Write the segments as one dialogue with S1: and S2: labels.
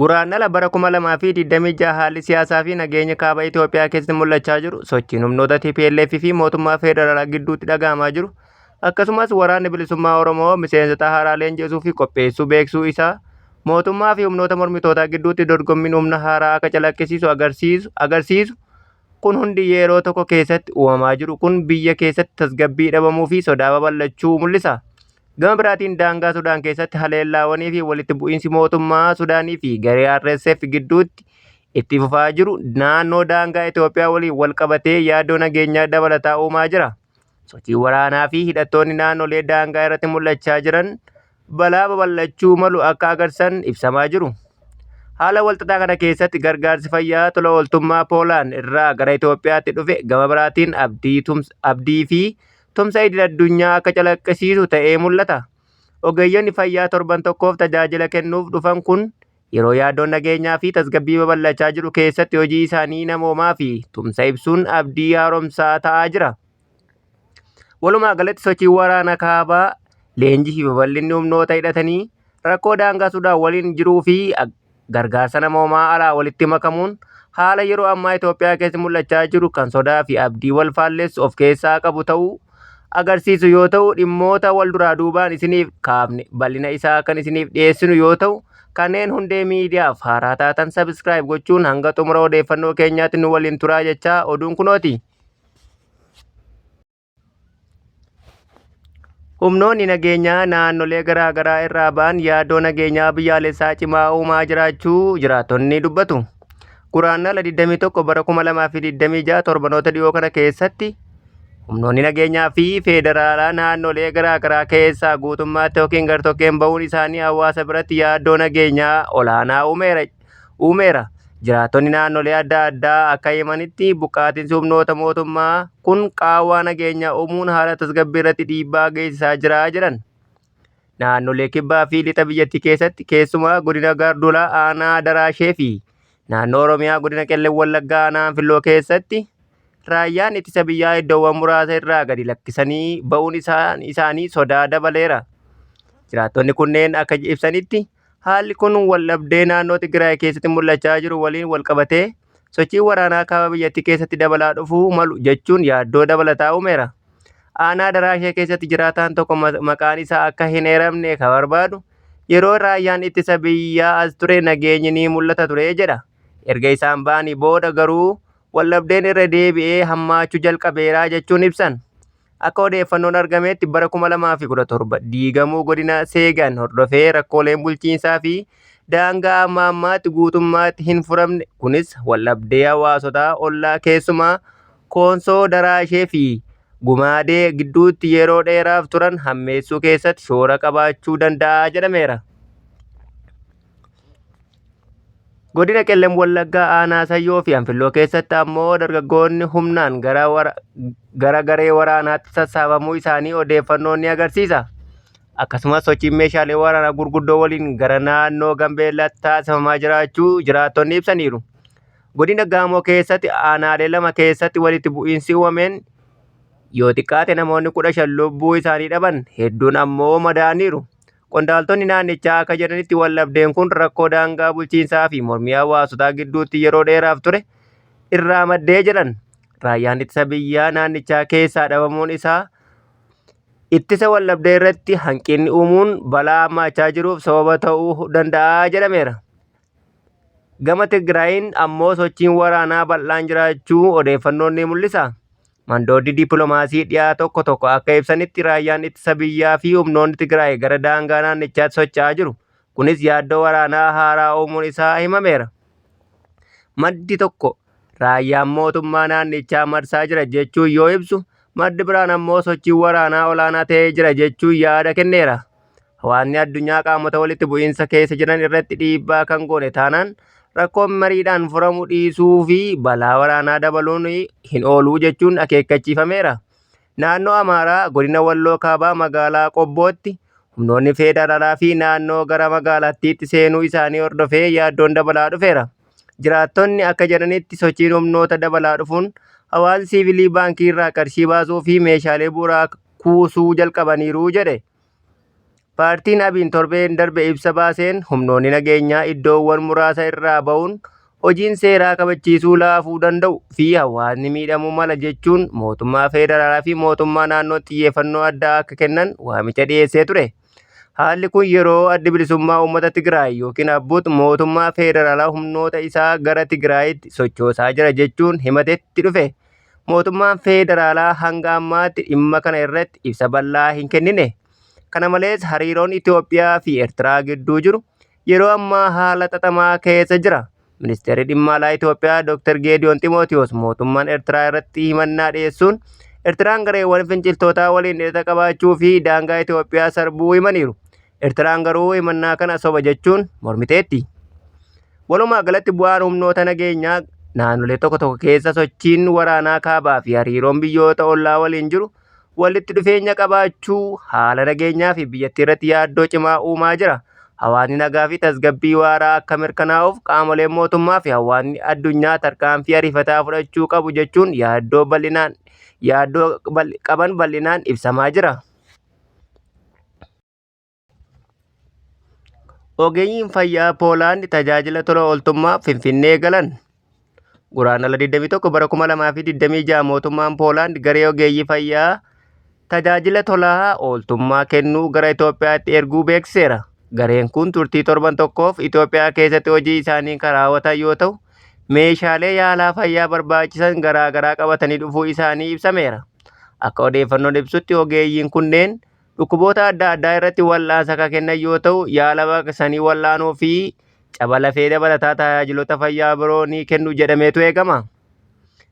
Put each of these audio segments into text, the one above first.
S1: Guraandhala bara 2026 haalli siyaasaa fi nageenya kaaba Itoophiyaa keessatti mul'achaa jiru, sochiin humnoota TPLF fi mootummaa federaalaa gidduutti dhaga'amaa jiru, akkasumas waraanni bilisummaa Oromoo miseensota haaraa leenjisuu fi qopheessuu beeksisuu isaa mootummaa fi humnoota mormitootaa gidduutti dorgommiin humna haaraa akka calaqqisiisu agarsiisu agarsiisu kun hundi yeroo tokko keessatti uumamaa jiru kun biyya keessatti tasgabbii dhabamuu fi sodaa babal'achuu mul'isa. Gama biraatiin daangaa Sudaan keessatti haleellaawwanii fi walitti bu'iinsi mootummaa Sudaanii fi garee RSF gidduutti itti fufaa jiru naannoo daangaa Itoophiyaa waliin wal qabatee yaaddoo nageenyaa dabalataa uumaa jira. Sochii waraanaa fi hidhattoonni naannolee daangaa irratti mul'achaa jiran balaa babal'achuu malu akka agarsiisan ibsamaa jiru. Haala walxaxaa kana keessatti gargaarsi fayyaa tola ooltummaa Poolaan irraa gara Itoophiyaatti dhufe gama biraatiin abdii fi tumsa idil-addunyaa akka calaqqisiisu ta'ee mul'ata. Ogeeyyonni fayyaa torban tokkoof tajaajila kennuuf dhufan kun yeroo yaaddoon nageenyaa fi tasgabbii babal'achaa jiru keessatti hojii isaanii namoomaa fi tumsa ibsuun abdii haaromsaa ta'aa jira. Walumaa galatti sochiin waraana kaabaa, leenjii fi babal'inni humnoota hidhatanii rakkoo daangaa Sudaan waliin jiruu fi gargaarsa namoomaa alaa walitti makamuun haala yeroo ammaa Itoophiyaa keessa mul'achaa jiru kan sodaa fi abdii wal faallessu of keessaa qabu ta'uu agarsiisu yoo ta'u dhimmoota wal duraa duubaan isiniif kaafne bal'ina isaa kan isiniif dhiyeessinu yoo ta'u kanneen hundee miidiyaaf haaraa taatan sabiskiraayib gochuun hanga xumura odeeffannoo keenyaatti nu waliin turaa jechaa oduun kunooti. Humnoonni nageenyaa naannolee garaa garaa irraa ba'an yaaddoo nageenyaa biyyaalessaa cimaa uumaa jiraachuu jiraattonni dubbatu. Guraandhala 21 bara 2026 torbanoota dhiyoo kana keessatti humnoonni nageenyaa fi feederaalaa naannolee garaa garaa keessaa guutummaatti yookiin gartokkeen ba'uun isaanii hawaasa biratti yaaddoo nageenyaa olaanaa uumeera. uumeera. Jiraattonni naannolee adda addaa akka himanitti buqqaatinsi humnoota mootummaa kun qaawwaa nageenyaa uumuun haala tasgabbii irratti dhiibbaa geessisaa jira jedhan. Naannolee kibbaa fi lixa biyyattii keessatti keessumaa godina Gaarduulaa aanaa Daraashee fi naannoo Oromiyaa godina Qellem Wallaggaa aanaa Anfilloo keessatti raayyaan ittisa biyyaa iddoowwan muraasa irraa gadi lakkisanii ba'uun isaanii sodaa dabaleera. Jiraattonni kunneen akka ibsanitti Haalli kun waldhabdee naannoo Tigraay keessatti mul'achaa jiru waliin walqabatee sochiin waraanaa kaaba biyyattii keessatti dabalaa dhufuu malu jechuun yaaddoo dabalataa uumeera. Aanaa Daraashee keessatti jiraataan tokko maqaan isaa akka hin eeramne kan barbaadu yeroo raayyaan ittisa biyyaa as ture nageenyi ni mul'ata ture jedha. Erga isaan ba'anii booda garuu waldhabdeen irra deebi'ee hammaachuu jalqabeera jechuun ibsan. Akka odeeffannoon argameetti bara 2017 diigamuu godina Seegan hordofee rakkooleen bulchiinsaa fi daangaa amma ammaatti guutummaatti hin furamne kunis waldhabdee hawaasota ollaa keessumaa Koonsoo Daraashee fi Gumaadee gidduutti yeroo dheeraaf turan hammeessuu keessatti shoora qabaachuu danda'a jedhameera. Godina Qellem Wallaggaa aanaa Sayyoo fi Anfilloo keessatti ammoo dargaggoonni humnaan gara wara- gara garee waraanaatti sassaabamuu isaanii odeeffannoon ni agarsiisa. Akkasumas sochiin meeshaalee waraanaa gurguddoo waliin gara naannoo Gambeellaatti taasifamaa jiraachuu jiraattonni ibsaniiru. Godina Gaamoo keessatti aanaalee lama keessatti walitti bu'iinsi uumameen yoo xiqqaate namoonni kudha shan lubbuu isaanii dhaban hedduun ammoo madaa'aniiru. Qondaaltonni naannichaa akka jedhanitti waldhabdeen kun rakkoo daangaa bulchiinsaa fi mormii hawaasotaa gidduutti yeroo dheeraaf ture irraa maddee jedhan. Raayyaan ittisa biyyaa naannichaa keessaa dhabamuun isaa ittisa waldhabdee irratti hanqinni uumuun balaa hammaachaa jiruuf sababa ta'uu danda'a jedhameera. Gama Tigraayiin ammoo sochiin waraanaa bal'aan jiraachuu odeeffannoon ni mul'isa. Mandooddi dippiloomaasii dhiyaa tokko tokko akka ibsanitti raayyaan ittisa biyyaa fi humnoonni Tigraay gara daangaa naannichaatti socho'aa jiru. Kunis yaaddoo waraanaa haaraa uumuun isaa himameera. Maddi tokko raayyaan mootummaa naannichaa marsaa jira jechuun yoo ibsu, maddi biraan ammoo sochiin waraanaa olaanaa ta'ee jira jechuun yaada kenneera. Hawaasni addunyaa qaamota walitti bu'iinsa keessa jiran irratti dhiibbaa kan goone taanaan rakkoon mariidhaan furamu dhiisuu fi balaa waraanaa dabaluun hin ooluu jechuun akeekkachiifameera. Naannoo Amaaraa godina Walloo Kaabaa magaalaa Qobbootti humnoonni feedaraalaa fi naannoo gara magaalattiitti seenuu isaanii hordofee yaaddoon dabalaa dhufeera. Jiraattonni akka jedhanitti sochiin humnoota dabalaa dhufuun hawaasni siivilii baankii irraa qarshii baasuu fi meeshaalee bu'uuraa kuusuu jalqabaniiru jedhe. Paartiin Abiin torbeen darbe ibsa baaseen humnoonni nageenyaa iddoowwan muraasa irraa ba'uun hojiin seeraa kabachiisuu laafuu danda'u fi hawaasni miidhamuu mala jechuun mootummaa feederaalaa fi mootummaa naannoo xiyyeeffannoo addaa akka kennan waamicha dhiyeessee ture. Haalli kun yeroo addi bilisummaa uummata Tigraay yookiin Abbut mootummaa feederaalaa humnoota isaa gara Tigraayitti sochoosaa jira jechuun himatetti dhufe. Mootummaan Feederaalaa hanga ammaatti dhimma kana irratti ibsa bal'aa hin kennine. Kana malees hariiroon Itoophiyaa fi Eertiraa gidduu jiru yeroo ammaa haala xaxamaa keessa jira. Ministeerri Dhimma Alaa Itoophiyaa Dr. Geediyoon Ximootiyoos mootummaan Eertiraa irratti himannaa dhiyeessuun Eertiraan gareewwan finciltootaa waliin hidhata qabaachuu fi daangaa Itoophiyaa sarbuu himaniiru. Ertiraan garuu himannaa kana soba jechuun mormiteetti. Walumaa galatti bu'aan humnoota nageenyaa naannolee tokko tokko keessa sochiin waraanaa kaabaa fi hariiroon biyyoota ollaa waliin jiru walitti dhufeenya qabaachuu haala nageenyaa fi biyyattii irratti yaaddoo cimaa uumaa jira. Hawaasni nagaa fi tasgabbii waaraa akka mirkanaa'uuf qaamoleen mootummaa fi hawaasni addunyaa tarkaanfii ariifataa fudhachuu qabu jechuun yaaddoo bal'inaan yaaddoo qaban bal'inaan ibsamaa jira. Ogeeyyiin fayyaa Poolaand tajaajila tola ooltummaa Finfinnee galan. Guraandhala 21 bara 2026 mootummaan Poolaand garee ogeeyyii fayyaa tajaajila tola ooltummaa kennuu gara Itoophiyaatti erguu beeksiseera. Gareen kun turtii torban tokkoof Itoophiyaa keessatti hojii isaanii kan raawwatan yoo ta'u, meeshaalee yaalaa fayyaa barbaachisan garaagaraa qabatanii dhufuu isaanii ibsameera. Akka odeeffannoon ibsutti ogeeyyiin kunneen Dhukkuboota adda addaa irratti wal'aansa kan kennan yoo ta'u, yaala baqaqsanii wal'aanuu fi caba lafee dabalataa tajaajilota fayyaa biroo ni kennu jedhameetu eegama.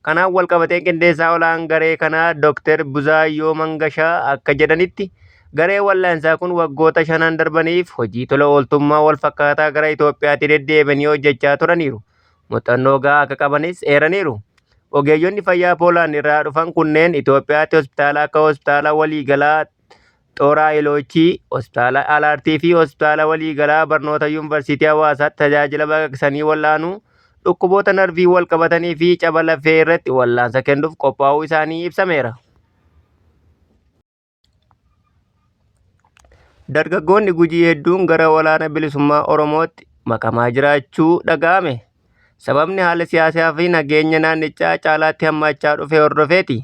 S1: Kanaan walqabateen qindeessaa olaan garee kanaa Dr. Buzaayyoo Mangashaa akka jedhanitti garee wal'aansaa kun waggoota shanan darbaniif hojii tola ooltummaa walfakkaataa gara Itoophiyaatti deddeebanii hojjechaa turaniiru. muuxannoo gahaa akka qabanis eeraniiru. Ogeeyyonni fayyaa Poolaand irraa dhufan kunneen Itoophiyaatti hospitaala akka hospitaala waliigalaa Xooraa Iloochii, hospitaala Alaartii fi hospitaala waliigalaa barnoota yuunivarsiitii Hawaasaatti tajaajila baqaqsanii wal'aanuu, dhukkuboota narviin wal qabatanii fi caba lafee irratti wal'aansa kennuuf qophaa'uu isaanii ibsameera. Dargaggoonni Gujii hedduun gara walaana bilisummaa Oromootti makamaa jiraachuu dhaga'ame. Sababni haala siyaasaa fi nageenya naannichaa caalaatti hammaachaa dhufe hordofeeti.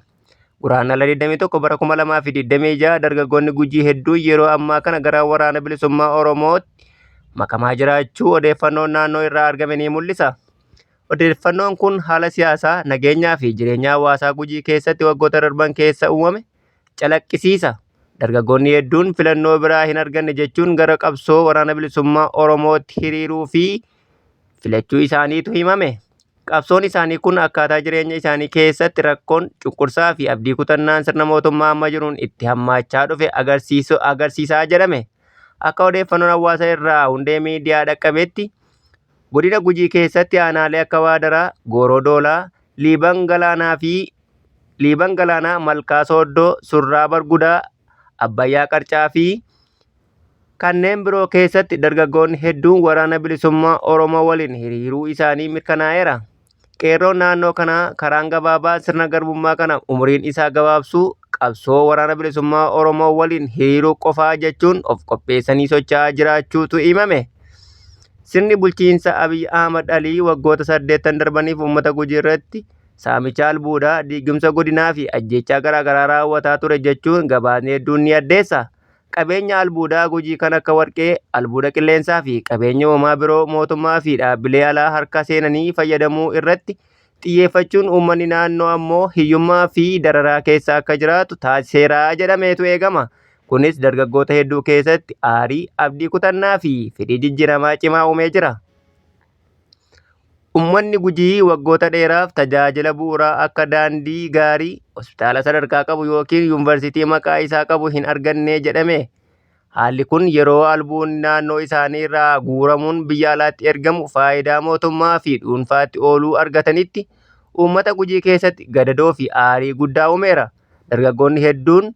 S1: Guraandhala 21 bara 2026 dargaggoonni Gujii hedduun yeroo ammaa kana gara waraana bilisummaa Oromootti makamaa jiraachuu odeeffannoon naannoo irraa argame ni mul'isa. Odeeffannoon kun haala siyaasaa, nageenyaa fi jireenya hawaasaa Gujii keessatti waggoota darban keessa uumame calaqqisiisa. Dargaggoonni hedduun filannoo biraa hin arganne jechuun gara qabsoo waraana bilisummaa Oromootti hiriiruu fi filachuu isaaniitu himame. Qabsoon isaanii kun akkaataa jireenya isaanii keessatti rakkoon, cunqursaa fi abdii kutannaan sirna mootummaa amma jiruun itti hammaachaa dhufe agarsiisu agarsiisaa jedhame. Akka odeeffannoon hawaasa irraa hundee miidiyaa dhaqqabetti, Godina Gujii keessatti aanaalee akka Waadaraa, Gooroo Doolaa, Liiban Galaanaa fi Liiban Galaanaa, Malkaa Sooddoo, Surraa Bargudaa, Abbayyaa Qarcaa fi kanneen biroo keessatti dargaggoonni hedduun waraana bilisummaa Oromoo waliin hiriiruu isaanii mirkanaa'eera. Qeerroon naannoo kanaa karaan gabaabaa sirna garbummaa kana umuriin isaa gabaabsuu qabsoo waraana bilisummaa Oromoo waliin hiriiruu qofaa jechuun of qopheessanii socho'aa jiraachuutu himame. Sirni bulchiinsa Abiy Ahmad Alii waggoota saddeettan darbaniif uummata Gujii irratti saamicha albuudaa, diigumsa godinaa fi ajjeechaa garaagaraa raawwataa ture jechuun gabaasni hedduun ni addeessa. Qabeenya albuudaa Gujii kan akka warqee, albuuda qilleensaa fi qabeenya uumamaa biroo mootummaa fi dhaabbilee alaa harka seenanii fayyadamuu irratti xiyyeeffachuun uummanni naannoo ammoo hiyyummaa fi dararaa keessa akka jiraatu taasiseera jedhameetu eegama. Kunis dargaggoota hedduu keessatti aarii, abdii kutannaa fi fedhii jijjiiramaa cimaa uumee jira. Ummanni Gujii waggoota dheeraaf tajaajila bu'uuraa akka daandii gaarii, hospitaala sadarkaa qabu ykn yuunvarsiitii maqaa isaa qabu hin arganne jedhame. Haalli kun yeroo albuunni naannoo isaanii irraa guuramuun biyya alaatti ergamu faayidaa mootummaa fi dhuunfaatti ooluu argatanitti uummata Gujii keessatti gadadoo fi aarii guddaa uumeera. Dargaggoonni hedduun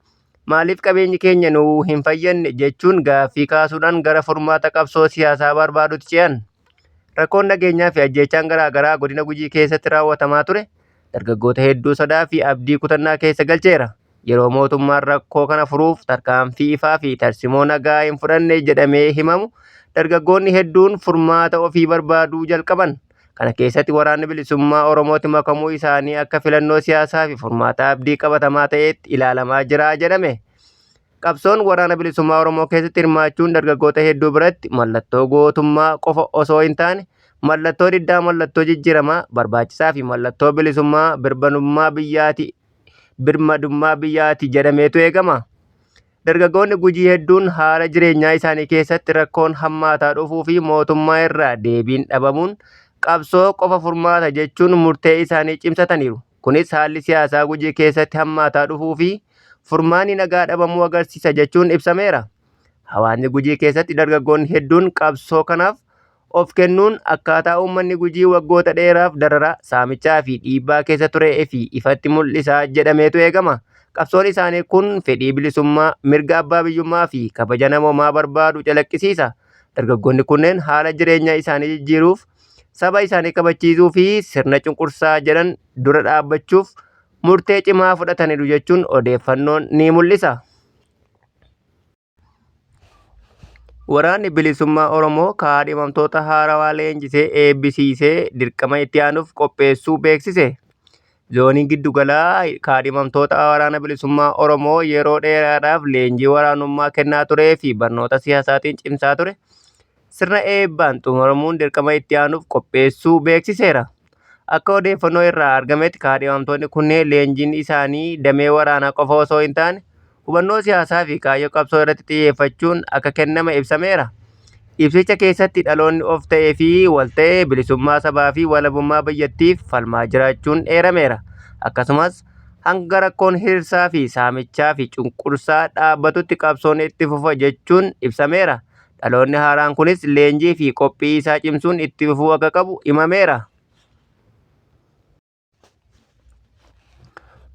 S1: Maaliif qabeenyi keenya nu hin fayyadne jechuun gaaffii kaasuudhaan gara furmaata qabsoo siyaasaa barbaaduutti ce'an. Rakkoon nageenyaa fi ajjeechaan garaa garaa godina Gujii keessatti raawwatamaa ture dargaggoota hedduu sodaa fi abdii kutannaa keessa galcheera. Yeroo mootummaan rakkoo kana furuuf tarkaanfii ifaa fi tarsimoo nagaa hin fudhanne jedhamee himamu dargaggoonni hedduun furmaata ofii barbaaduu jalqaban. Kana keessatti Waraanni Bilisummaa Oromootti makamuu isaanii akka filannoo siyaasaa fi furmaata abdii qabatamaa ta'eetti ilaalamaa jira jedhame. Qabsoon Waraana Bilisummaa Oromoo keessatti hirmaachuun dargaggoota hedduu biratti mallattoo gootummaa qofa osoo hin taane mallattoo diddaa mallattoo jijjiiramaa barbaachisaa fi mallattoo bilisummaa birmadummaa biyyaati birmadummaa biyyaati jedhameetu eegama. Dargaggoonni Gujii hedduun haala jireenyaa isaanii keessatti rakkoon hammaataa dhufuu fi mootummaa irraa deebiin dhabamuun qabsoo qofa furmaata jechuun murtee isaanii cimsataniiru. Kunis haalli siyaasaa Gujii keessatti hammaataa dhufuu fi furmaanni nagaa dhabamuu agarsiisa jechuun ibsameera. Hawaasni Gujii keessatti dargaggoonni hedduun qabsoo kanaaf Of kennuun akkaataa uummanni Gujii waggoota dheeraaf dararaa, saamichaa fi dhiibbaa keessa ture fi ifatti mul'isa jedhameetu eegama. Qabsoon isaanii kun fedhii bilisummaa, mirga abbaa biyyummaa fi kabaja namoomaa barbaadu calaqqisiisa. Dargaggoonni kunneen haala jireenya isaanii jijjiiruuf, saba isaanii kabachiisuu fi sirna cunqursaa jedhan dura dhaabbachuuf murtee cimaa fudhataniiru jechuun odeeffannoon ni mul'isa. Waraanni Bilisummaa Oromoo kaadhimamtoota haarawaa leenjisee eebbisiisee dirqama itti aanuuf qopheessuu beeksise. Zooniin giddugalaa kaadhimamtoota Waraana Bilisummaa Oromoo yeroo dheeraadhaaf leenjii waraanummaa kennaa turee fi barnoota siyaasaatiin cimsaa ture sirna eebbaan xumuramuun dirqama itti aanuuf qopheessuu beeksiseera. Akka odeeffannoo irraa argametti kaadhimamtoonni kunneen leenjiin isaanii damee waraanaa qofa osoo hin taane hubannoo siyaasaa fi kaayyoo qabsoo irratti xiyyeeffachuun akka kenname ibsameera. Ibsicha keessatti dhaloonni of ta'ee fi wal ta'e bilisummaa sabaa fi walabummaa biyyattiif falmaa jiraachuun eerameera. Akkasumas hanga rakkoon hirirsaa fi saamichaa fi cunqursaa dhaabbatutti qabsoon itti fufa jechuun ibsameera. Dhaloonni haaraan kunis leenjii fi qophii isaa cimsuun itti fufuu akka qabu himameera.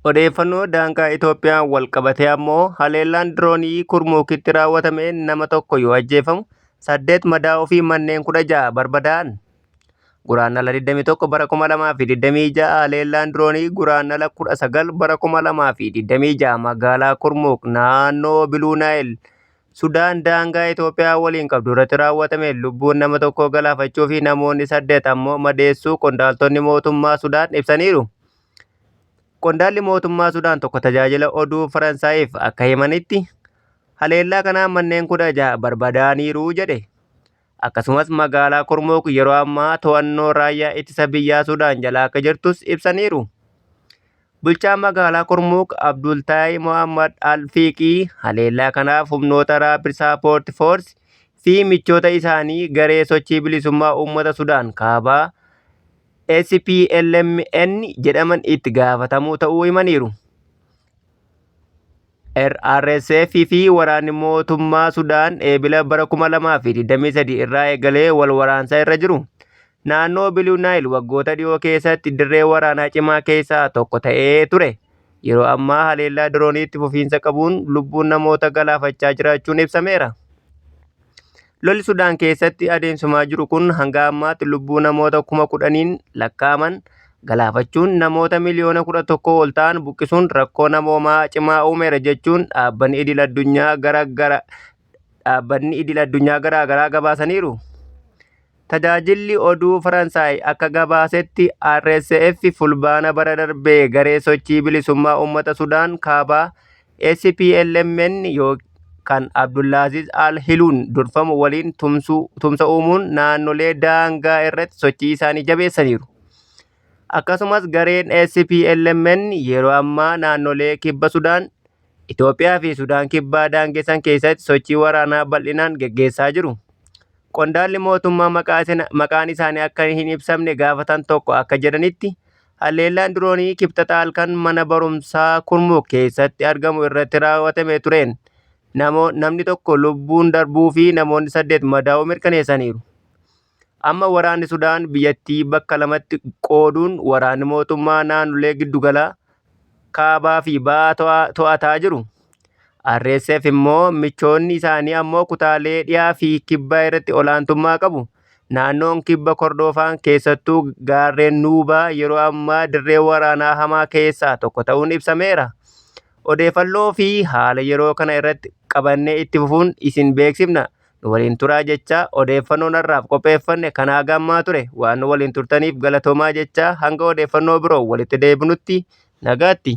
S1: Odeeffannoo daangaa Itoophiyaan wal qabatee ammoo haleellaan diroonii Kurmuukitti raawwatamee nama tokko yoo ajjeefamu saddeet madaa'uu fi manneen kudha ja'a barbadaa'an. Guraandhala 21 bara 2026 haleellaan diroonii Guraandhala 19 bara 2026 magaalaa Kurmuuk naannoo Biluu Naayil Sudaan daangaa Itoophiyaa waliin qabdu irratti raawwatameen lubbuun nama tokkoo galaafachuu fi namoonni saddeet ammoo madeessuu qondaaltonni mootummaa Sudaan ibsaniiru. Qondaalli mootummaa Sudaan tokko tajaajila oduu Faransaayiif akka himanitti haleellaa kanaan manneen kudha jaha barbadaaniiru jedhe. akkasumas magaalaa Kurmuuk yeroo ammaa to'annoo raayyaa ittisa biyyaa Sudaan jala akka jirtus ibsaniiru. Bulchaan magaalaa Kurmuuk Abdultaay Mohammad Al-Fiiqii haleellaa kanaaf humnoota Raapid Saapoorti Foorsi fi michoota isaanii garee sochii bilisummaa uummata Sudaan kaabaa SPLMN jedhaman itti gaafatamuu ta'uu himaniiru. RSF fi waraanni mootummaa Sudaan eebila bara 2023 irraa eegalee wal waraansaa irra jiru. Naannoo Biliu Naayil waggoota dhiyoo keessatti dirree waraanaa cimaa keessaa tokko ta'ee ture. Yeroo ammaa haleellaa dirooniitti fufiinsa qabuun lubbuun namoota galaafachaa jiraachuun ibsameera. Lolli Sudaan keessatti adeemsifamaa jiru kun hanga ammaatti lubbuu namoota kuma kudhaniin lakkaa'aman galaafachuun namoota miliyoona kudha tokko ol ta'an buqqisuun rakkoo namoomaa cimaa uumeera jechuun dhaabbanni idil addunyaa gara gara dhaabbanni idil addunyaa garaa garaa gabaasaniiru. Tajaajilli oduu Faransaay akka gabaasetti RSF Fulbaana bara darbe garee sochii bilisummaa uummata Sudaan kaabaa SPLMN kan Abdullaaziz al-Hiluun durfamu waliin tumsa uumuun naannolee daangaa irratti sochii isaanii jabeessaniiru. Akkasumas gareen SPLMN yeroo ammaa naannolee kibba Sudaan Itoophiyaa fi Sudaan Kibbaa daangessan keessatti sochii waraanaa bal'inaan geggeessaa jiru. Qondaalli mootummaa maqaan isaanii akka hin ibsamne gaafatan tokko akka jedhanitti, halleellaan diroonii Kibxata halkan mana barumsaa Kurmuk keessatti argamu irratti raawwatame tureen namni tokko lubbuun darbuu fi namoonni saddeet madaa'uu mirkaneessaniiru. Amma waraanni Sudaan biyyattii bakka lamatti qooduun waraanni mootummaa naannolee giddugalaa, kaabaa fi ba'aa to'ataa jiru. RSF immoo michoonni isaanii ammoo kutaalee dhiyaa fi kibbaa irratti olaantummaa qabu. Naannoon kibba Kordoofaan keessattuu gaarreen Nuubaa yeroo ammaa dirree waraanaa hamaa keessaa tokko ta'uun ibsameera. Odeeffannoo fi haala yeroo kana irratti qabannee itti fufuun isin beeksifna. Nu waliin turaa jechaa odeeffannoon har'aaf qopheeffanne kan haga ammaa ture. Waan nu waliin turtaniif galatoomaa jechaa hanga odeeffannoo biroo walitti deebinutti nagaatti.